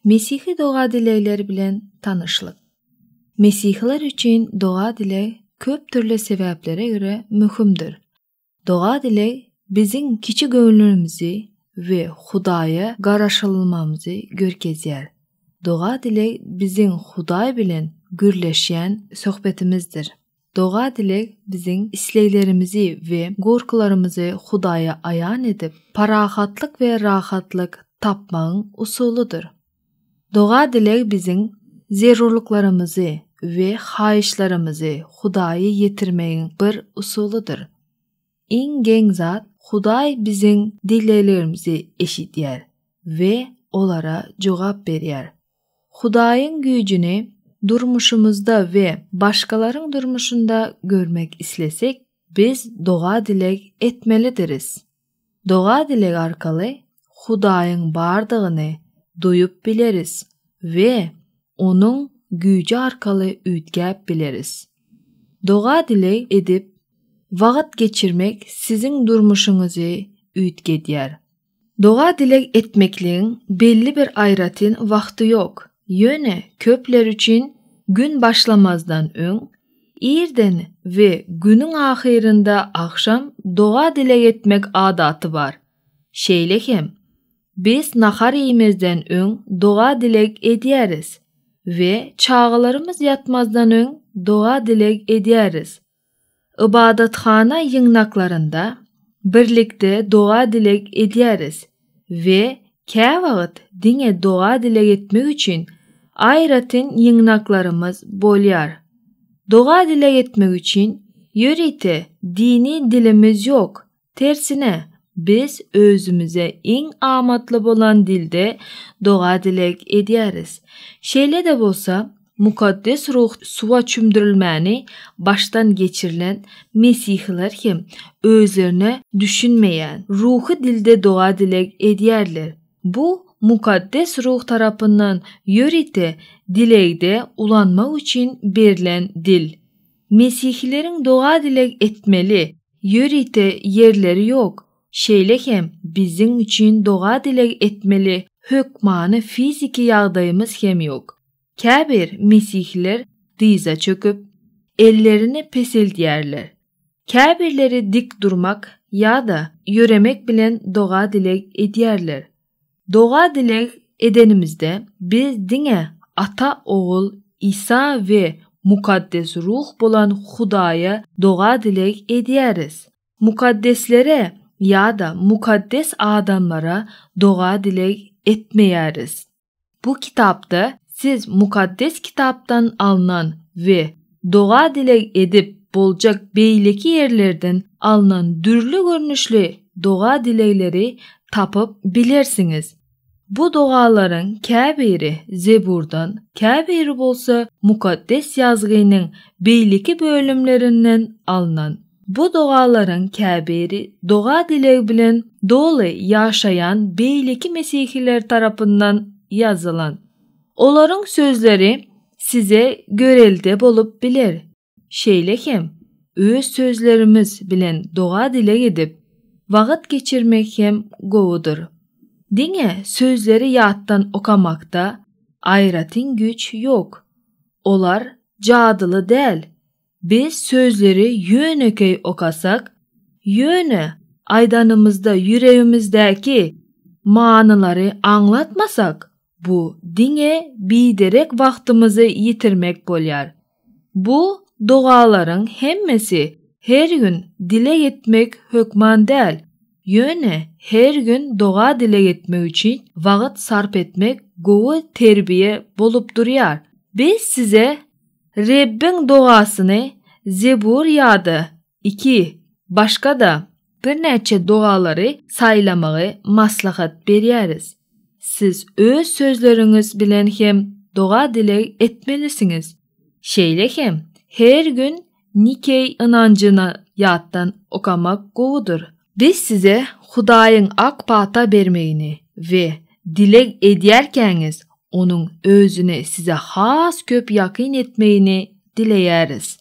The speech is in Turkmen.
Mesihi doga dilegleri bilen tanyşlyk. Mesihiler üçin doga dileg köp dürli sebäplere görä möhümdir. Doga-dileg biziň kiçi göwnümizi we Hudaýa garaşylmamyzy görkezýär. Doga-dileg biziň Hudaý bilen gürleşýän söhbetimizdir. Doga-dileg biziň isleglerimizi we gorkularymyzy Hudaýa aýan edip, parahatlyk we rahatlyk tapmagyň usulydyr. Doga-dileg biziň zerurlyklarymyzy we haýyşlarymyzy Hudaýa ýetirmegiň bir usulydyr. Iň geň zat, Hudaý biziň dileglerimizi eşidýär we olara jogap berýär. Hudaýyň güýjüni durmuşymyzda we başgalaryň durmuşynda görmek islesek, biz doga-dileg etmelidiris. Doga-dileg arkaly Hudaýyň bardygyny duýup bileris we Onuň güýji arkaly üýtgäp bileris. Doga-dileg edip wagt geçirmek siziň durmuşyňyzy üýtgedýär. Doga-dileg etmekligiň belli bir aýratyn wagty ýok, ýöne köpler üçin gün başlamazdan öň Irden we günüň ahyrynda agşam doga-dileg etmek adaty bar. Şeýle hem, biz nahar iýmezden öň doga-dileg edýäris we çagalarymyz ýatmazdan öň doga-dileg edýäris. Ybadathana ýygnaklarynda birlikde doga-dileg edýäris. we käwagt diňe doga-dileg etmek üçin aýratyn ýygnaklarymyz bolýar. Doga-dileg etmek üçin ýörite dini dilimiz ýok, tersine, biz özümize iň amatly bolan dilde doga-dileg edýäris. Şeýle-de bolsa, Mukaddes Ruh suwa çümdürilmäni başdan geçirilen mesihiler hem özlerine düşünmeýän ruhy dilde doga-dileg edýärler. Bu Mukaddes Ruh tarapyndan ýörite dilegde ulanmak üçin berlen dil. Mesihileriň doga-dileg etmeli ýörite ýerleri ýok, şeýle hem biziň üçin doga-dileg etmeli hökmany fiziki ýagdaýymyz hem ýok. Käbir mesihler dyza çöküp, ellerini peseldýärler. Käbirleri dik durmak ýa-da ýöremek bilen doga-dileg edýärler. Doga-dileg edenimizde, biz diňe Ata, Ogul, Isa we Mukaddes Ruh bolan Hudaýa doga-dileg edýäris. Mukaddeslere ýa-da mukaddes adamlara doga-dileg etmeýäris. Bu kitapda siz Mukaddes Kitapdan alnan we doga-dileg edip boljak beýleki ýerlerden alnan dürli görnüşli doga-dilegleri tapyp bilersiňiz. Bu dogalaryň käbiri Zeburdan, käbiri bolsa Mukaddes Ýazgynyň beýleki bölümlerinden alnan. Bu dogalaryň käbiri doga-dileg bilen doly ýaşaýan beýleki mesihiler tarapyndan ýazylan. Olaryň sözleri size görelde bolup biler. Şeýle hem, öz sözlerimiz bilen doga-dileg edip, wagt geçirmek hem gowudyr. Diňe sözleri ýatdan okamakda aýratyn güýç ýok. Olar jadyly däl, Biz sözleri ýönekeý okasak, ýöne aýdanymyzda ýüregimizdäki manylary aňlatmasak, bu diňe biderek wagtymyzy ýitirmek bolýar. Bu dogalaryň hemmesi her gün dileg etmek hökman däl, ýöne her gün doga-dileg etmek üçin wagt sarp etmek gowy terbiýe bolup durýar. Biz size Rebbiň dogasyny Zebur ýa-da iki başga-da birnäçe dogalary saýlamagy maslahat berýäris. Siz öz sözleriňiz bilen hem doga-dileg etmelisiňiz. Şeýle hem her gün Nikeý ynanjyny ýatdan okamak gowudyr. Biz size Hudaýyň ak pata bermegini we dileg edýärkäňiz Onuň Özüni size has köp ýakyn etmegini dileýäris.